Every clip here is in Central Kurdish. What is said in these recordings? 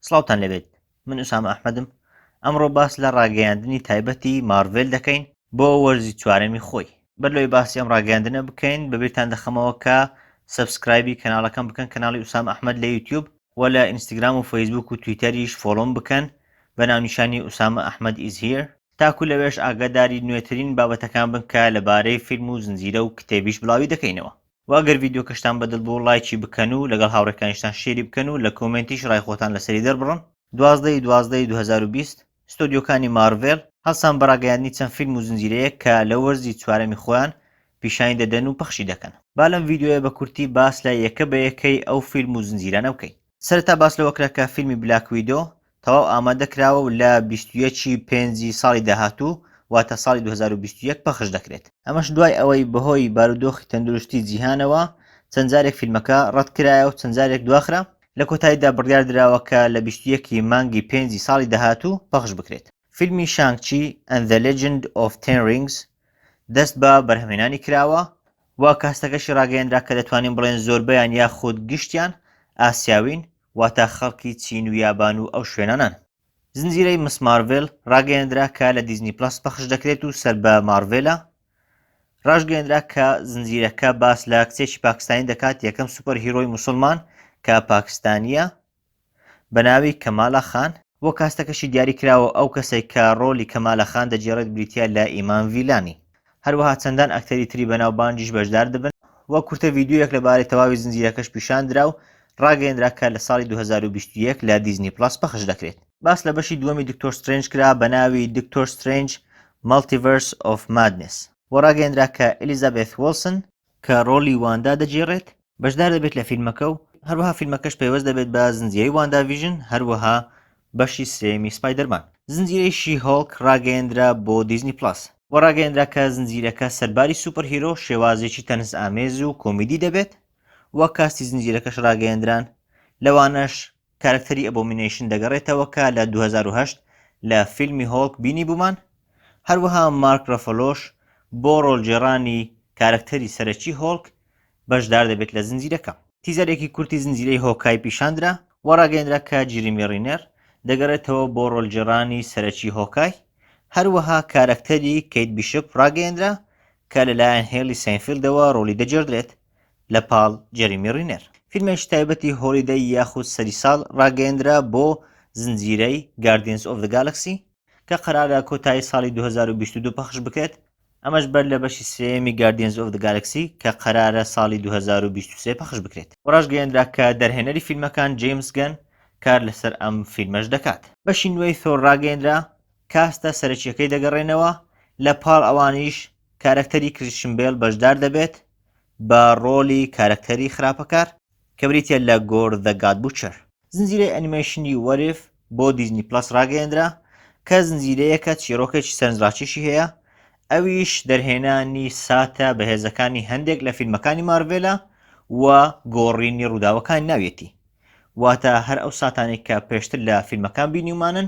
سڵاوتان لەبێت من ئوسام ئەحمەدم ئەمڕۆ باس لە ڕاگەیاندنی تایبەتی مارڤێل دەکەین بۆ وەرزی چوارەمی خۆی بەر لەوەی باسی ئەم ڕاگەیاندنە بکەین بەبیرتان دەخەمەوە کە سبسکرایبی کەناڵەکەم بکەن کەناڵی ئوسام ئەحمد لە یوتیوب و لە ئینستاگرام و فەیسبوک و تویتەریش فۆڵۆم بکەن بە ناونیشانی ئوسامە ئەحمد ئیز هیر تاکو لەوێش ئاگاداری نوێترین بابەتەکان بن کە لەبارەی فیلم و زنجیرە و کتێبیش بڵاوی دەکەینەوە و ئەگەر ڤیدیۆکەشتان بەدڵ بوو ڵایکی بکەن و لەگەڵ هاوڕێکانیشتان شێری بکەن و لە کۆمێنتیش ڕای خۆتان لەسەری دەربڕن. دوازدە ی دوازدە ی دوو هەزار و بیست، ستۆدیۆکانی مارڤێل هەڵسان بە ڕاگەیاندنی چەند فیلم و زنجیرەیەک کە لە وەرزی چوارەمی خۆیان پیشانی دەدەن و پەخشی دەکەن. با لەم ڤیدیۆیە بە کورتی باس لە یەکە بە یەکەی ئەو فیلم و زنجیرانە بکەین. سەرەتا باس لەوە کرا کە فیلمی بلاک ویدۆ تەواو ئامادە کراوە و لە 21 ی پێنجی ساڵی داهاتوو واتە ساڵی 2021 پەخش دەکرێت. ئەمەش دوای ئەوەی بەهۆی بارودۆخی تەندروستی جیهانەوە چەند جارێک فیلمەکە ڕەت کرایە و چەند جارێک دواخرا، لە کۆتاییدا بڕیار دراوە کە لە 21 ی مانگی پێنجی ساڵی داهاتوو پەخش بکرێت. فیلمی شانگ چی ئەند زە لێجند ئۆف تێن ڕینگس دەست بە بەرهەمهێنانی کراوە و کەهەستەکەشی ڕاگەیەنرا کە دەتوانین بڵێن زۆربەیان یاخود گشتیان ئاسیاوین واتە خەڵکی چین و یابان و ئەو شوێنانەن. زنجیرەی مس مارڤل ڕاگەیەندرا کە لە دیزنی پڵەس پەخش دەکرێت و سەر بە مارڤلە. ڕاشگەیەندرا کە زنجیرەکە باس لە کچێکی پاکستانی دەکات یەکەم سوپەر هیرۆی موسڵمان کە پاکستانیە بە ناوی کەمالە خان، و کاستەکەشی دیاری کراوە ئەو کەسەی کە ڕۆلی کەمالە خان دەگێڕێت بریتیە لە ئیمان ڤیلانی هەروەها چەندان ئەکتەری تری بەناو بانگیش بەشدار دەبن و کورتە ڤیدیۆیەک لە بارەی تەواوی زنجیرەکەش پیشان درا و ڕاگەیەندرا کە لە ساڵی دوو هەزار و بیست و یەک لە دیزنی پڵەس پەخش دەکرێت. باس لە بەشی دووەمی دکتۆر سترێنج کرا بە ناوی دکتۆر سترێنج، مەڵتیڤەرس ئۆف مادنێس، و ڕاگەیەندرا کە ئیلیزابێث وڵسن، کە ڕۆڵی واندا دەگێڕێت، بەشدار دەبێت لە فیلمەکە و هەروەها فیلمەکەش پەیوەست دەبێت بە زنجیرەی واندا ڤیژن، هەروەها بەشی سێیەمی سپایدەرمان. زنجیرەی شی هۆڵک ڕاگەیەندرا بۆ دیزنی پڵەس و ڕاگەیەندرا کە زنجیرەکە سەرباری سوپەرهیرۆ، شێوازێکی تەنزئامێز و کۆمیدی دەبێت و کاستی زنجیرەکەش ڕاگەیەندران لەوانەش کارەکتەری ئەبۆمینەیشن دەگەڕێتەوە کە لە دوو هەزار و هەشت لە فیلمی هۆڵک بینیبوومان، هەروەها مارک رەفەلۆش بۆ رۆڵگێڕانی کارەکتەری سەرەکی هۆڵک بەشدار دەبێت لە زنجیرەکە. تیزەرێکی کورتی زنجیرەی هۆکای پیشاندرا و راگەیەندرا کە جیریمی رینێر دەگەڕێتەوە بۆ رۆڵگێڕانی سەرەکی هۆکای، هەروەها کارەکتەری کەیت بیشپ راگەیەندرا کە لەلایەن هێلی سەینفیلدەوە رۆڵی دەگێڕدرێت. لە پاڵ جێریمی رینێر. فیلمێکی تایبەتی هۆڵیدەی یاخود سەری ساڵ راگەیەندرا بۆ زنجیرەی Guardians of the Galaxy کە قەرارە کۆتایی ساڵی دوو هەزار و بیست و دوو پەخش بکرێت، ئەمەش بەر لە بەشی سێیەمی Guardians of the Galaxy کە قەرارە ساڵی دوو هەزار و بیست و سێ پەخش بکرێت. راشگەیەندرا کە دەرهێنەری فیلمەکان جەیمس گەن کار لەسەر ئەم فیلمەش دەکات. بەشی نوێی ثۆر راگەیەندرا، کاستە سەرەکییەکەی دەگەڕێنەوە، لە پاڵ ئەوانیش کارەکتەری کریشن بێل بەشدار دەبێت بە ڕۆڵی کارەکتەری خراپەکار کە بریتییە لە گۆر زە گاد بوچەر. زنجیرەی ئەنیمەیشنی وەر ئیف بۆ دیزنی پڵەس ڕاگەیەندرا کە زنجیرەیەکە چیڕۆکێکی سەرنجڕاکێشی هەیە ئەویش دەرهێنانی ساتە بەهێزەکانی هەندێک لە فیلمەکانی مارڤێلە و گۆڕینی ڕووداوەکانی ناویەتی واتە هەر ئەو ساتانێک کە پێشتر لە فیلمەکان بینیومانن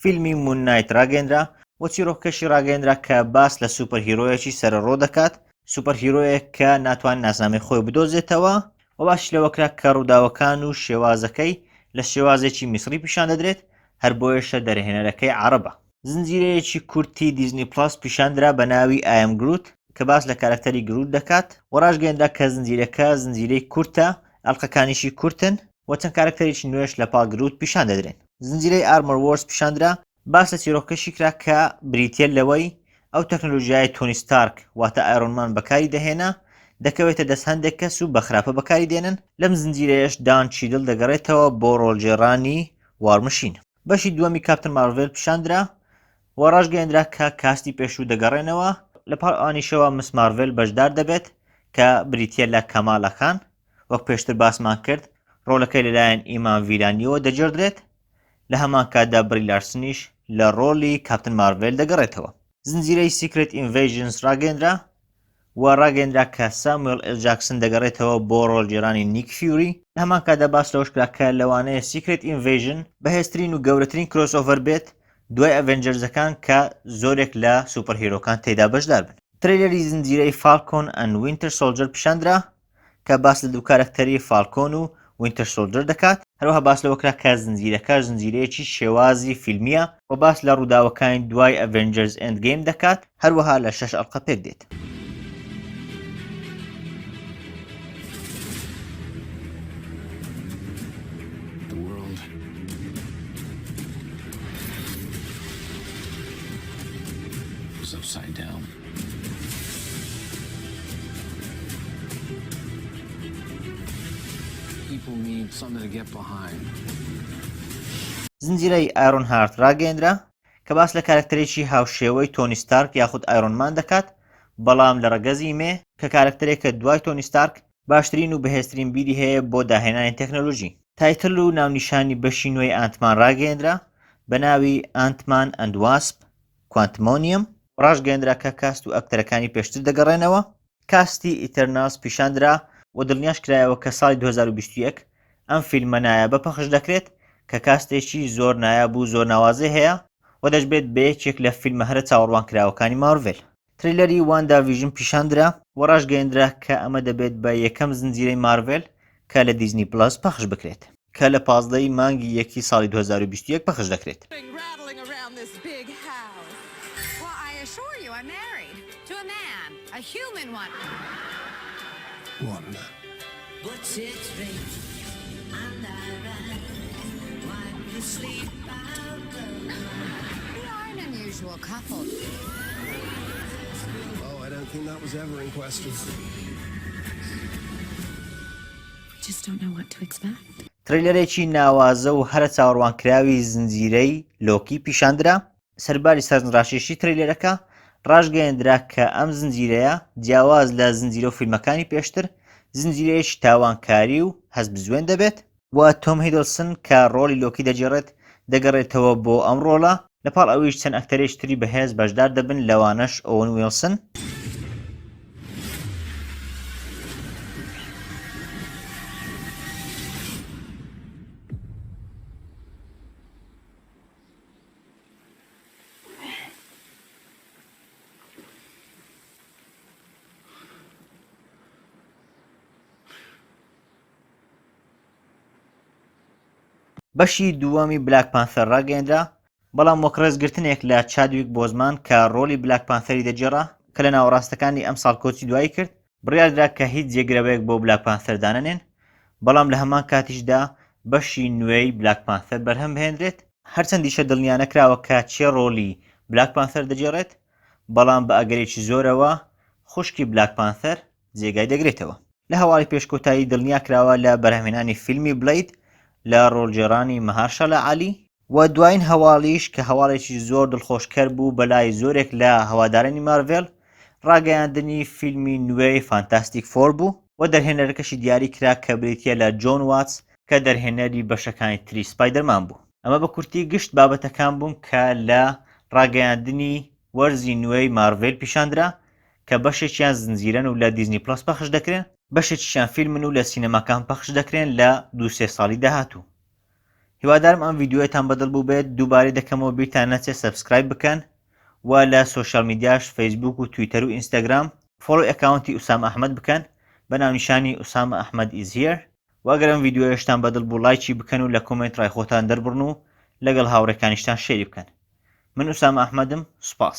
فیلمی مون نایت ڕاگەندرا و چیرۆکەشی ڕاگەندرا کە باس لە سوپەر هیرۆیەکی سەرەڕۆ دەکات سوپەر هیرۆیەک کە ناتوان ناسنامەی خۆی بدۆزێتەوە و باش لەوەکرا کە ڕووداوەکان و شێوازەکەی لە شێوازێکی میسری پیشان دەدرێت هەر بۆیەشە دەرهێنەرەکەی عەڕەبە. زنجیرەیەکی کورتی دیزنی پڵەس پیشاندرا بە ناوی ئای ئەم گروت کە باس لە کارەکتەری گروت دەکات و ڕاشگەیەندرا کە زنجیرەکە زنجیرەی کورتە ئەڵقەکانیشی کورتن، و چەند کارەکتەرێکی نوێش لە پاڵ گرووت پیشان دەدرێن. زنجیرەی ئارمۆر وۆرس پیشان درا، باس لە چیرۆکەکەشی کرا کە بریتییە لەوەی ئەو تەکنەلۆژیایەی تۆنی ستارک واتە ئایرۆن مان بەکاری دەهێنا، دەکەوێتە دەست هەندێک کەس و بە خراپە بەکاری دێنن، لەم زنجیرەیەش دان چیدل دەگەڕێتەوە بۆ ڕۆڵگێڕانی وار مشین. بەشی دووەمی کاپتن مارڤێل پیشاندرا و ڕاشگەیەندرا کە کاستی پێشوو دەگەڕێنەوە لە پاڵ ئەوانیشەوە مس مارڤێل بەشدار دەبێت کە بریتیە لە کەمالاخان وەک پێشتر باسمان کرد ڕۆلەکەی لەلایەن ئیمان ڤیلانیەوە دەجێڕدرێت لە هەمان کاتدا بری لارسنیش لە ڕۆلی کاپتن مارڤێل دەگەڕێتەوە زنجیرەی سیکرێت ئینڤەیژنس ڕاگەیەندرا و ڕاگەیەندرا کە ساموێڵ ئێل جاکسن دەگەڕێتەوە بۆ ڕۆڵگێڕانی نیک فیوری، لە هەمان کاتدا باس لەوەش کرا کە لەوانەیە سیکرێت ئینڤەیژن بەهێزترین و گەورەترین کرۆسئۆڤەر بێت دوای ئەڤێنجەرزەکان کە زۆرێک لە سوپەرهیرۆکان تێیدا بەشدار بن. ترەیلەری زنجیرەی فاڵکۆن ئەند وینتەر سۆڵجەر پیشاندرا، کە باس لە دوو کارەکتەری فاڵکۆن و وینتەر سۆڵجەر دەکات، هەروەها باس لەوە کرا کە زنجیرەکە زنجیرەیەکی شێوازی فیلمییە و باس لە ڕووداوەکانی دوای ئەڤێنجەرز ئێند گەیم دەکات، هەروەها لە شەش ئەڵقە پێک دێت. زنجیرەی ئایرۆن هارت ڕاگەیەندرا کە باس لە کارەکتەرێکی هاوشێوەی تۆنی ستارک یاخود ئایرۆن مان دەکات بەڵام لە ڕەگەزی مێ کە کارەکتەرێکە دوای تۆنی ستارک باشترین و بەهێزترین بیری هەیە بۆ داهێنانی تەکنەلۆژی. تایتل و ناونیشانی بەشی نوێی ئانت مان ڕاگەیەندرا بە ناوی، ئانت مان ئەند واسپ، کوانتمۆنیەم. ڕاشگەیەندرا کە کاست و ئەکتەرەکانی پێشتر دەگەڕێنەوە. کاستی ئیتەرناڵس پیشاندرا و دڵنیاش کرایەوە کە ساڵی دوو هەزار و بیست و یەک ئەم فیلمە نایابە پەخش دەکرێت کە کاستێکی زۆر نایاب و زۆر ناوازەی هەیە و دەشبێت بە یەکێک لە فیلمە هەرە چاوەڕوانکراوەکانی مارڤێل. ترەیلەری واندا ڤیژن پیشاندرا و ڕاشگەیەندرا کە ئەمە دەبێت بە یەکەم زنجیرەی مارڤێل کە لە دیزنی پڵەس پەخش بکرێت. کە لە پازدە ی مانگی یەکی ساڵی دوو هەزار و بیست و یەک پەخش دەکرێت. ترەیلەرێکی ناوازە و هەرە چاوەڕوانکراوی زنجیرەی لۆکی پیشاندرا، سەرباری سەرنجڕاکێشی ترەیلەرەکە، ڕاشگەیەندرا کە ئەم زنجیرەیە جیاواز لە زنجیرە و فیلمەکانی پێشتر، زنجیرەیەکی تاوانکاری و هەستبزوێن دەبێت، و تۆم هیدلسن کە ڕۆڵی لۆکی دەگێڕێت دەگەڕێتەوە بۆ ئەم ڕۆڵە لە پاڵ ئەویش چەند ئەکتەرێکی تری بەهێز بەشدار دەبن لەوانەش ئۆون ویڵسن بەشی دووەمی بلاک پانثەر ڕاگەیەنرا بەڵام وەک ڕێزگرتنێک لە چادویک بۆزمان کە ڕۆلی بلاک پانثەری دەگێڕا کە لە ناوەڕاستەکانی ئەم ساڵ کۆچی دوایی کرد بڕیاردرا کە هیچ جێگرەوەیەک بۆ بلاک پانثەر دانەنێن بەڵام لە هەمان کاتیشدا بەشی نوێی بلاک پانثەر بەرهەم بهێنرێت هەرچەندیشە دڵنیا نەکراوە کە کێ ڕۆلی بلاک پانثەر دەگێڕێت بەڵام بە ئەگەرێکی زۆرەوە خوشکی بلاک پانثەر جێگای دەگرێتەوە. لە هەواڵی پێش کۆتایی دڵنیا کراوە لە بەرهەمهێنانی فیلمی بلەید لە ڕۆڵگێڕانی مەهارشالا عەلی، وە دوایین هەواڵیش کە هەواڵێکی زۆر دڵخۆشکەر بوو بەلای زۆرێک لە هەوادارانی مارڤێل ڕاگەیاندنی فیلمی نوێی فانتاستیک فۆر بوو، وە دەرهێنەرەکەشی دیاری کرا کە بریتیە لە جۆن واتس کە دەرهێنەری بەشەکانی تری سپایدەرمان بوو. ئەمە بە کورتی گشت بابەتەکان بوون کە لە ڕاگەیاندنی وەرزی نوێی مارڤێل پیشاندرا کە بەشێکیان زنجیرەن و لە دیزنی پڵەس پەخش دەکرێن، بەشێکیشیان فیلمن و لە سینەماکان پەخش دەکرێن لە دوو سێ ساڵی داهاتوو. هیوادارم ئەم ڤیدیۆیەتان بەدڵ بووبێت، دووبارەی دەکەمەوە بیرتان نەچێت سەبسکرایب بکەن و لە سۆشیال میدیاش فەیسبووک و تویتەر و ئینستاگرام فۆڵۆی ئەکاونتی ئوسامە ئەحمەد بکەن بە ناونیشانی Usama Ahmed is here و ئەگەر ئەم ڤیدیۆیەشتان بەدڵ بوو ڵایکی بکەن و لە کۆمێنت ڕای خۆتان دەربڕن و لەگەڵ هاوڕێکانیشتان شێری بکەن من ئوسامە ئەحمەدم سوپاس.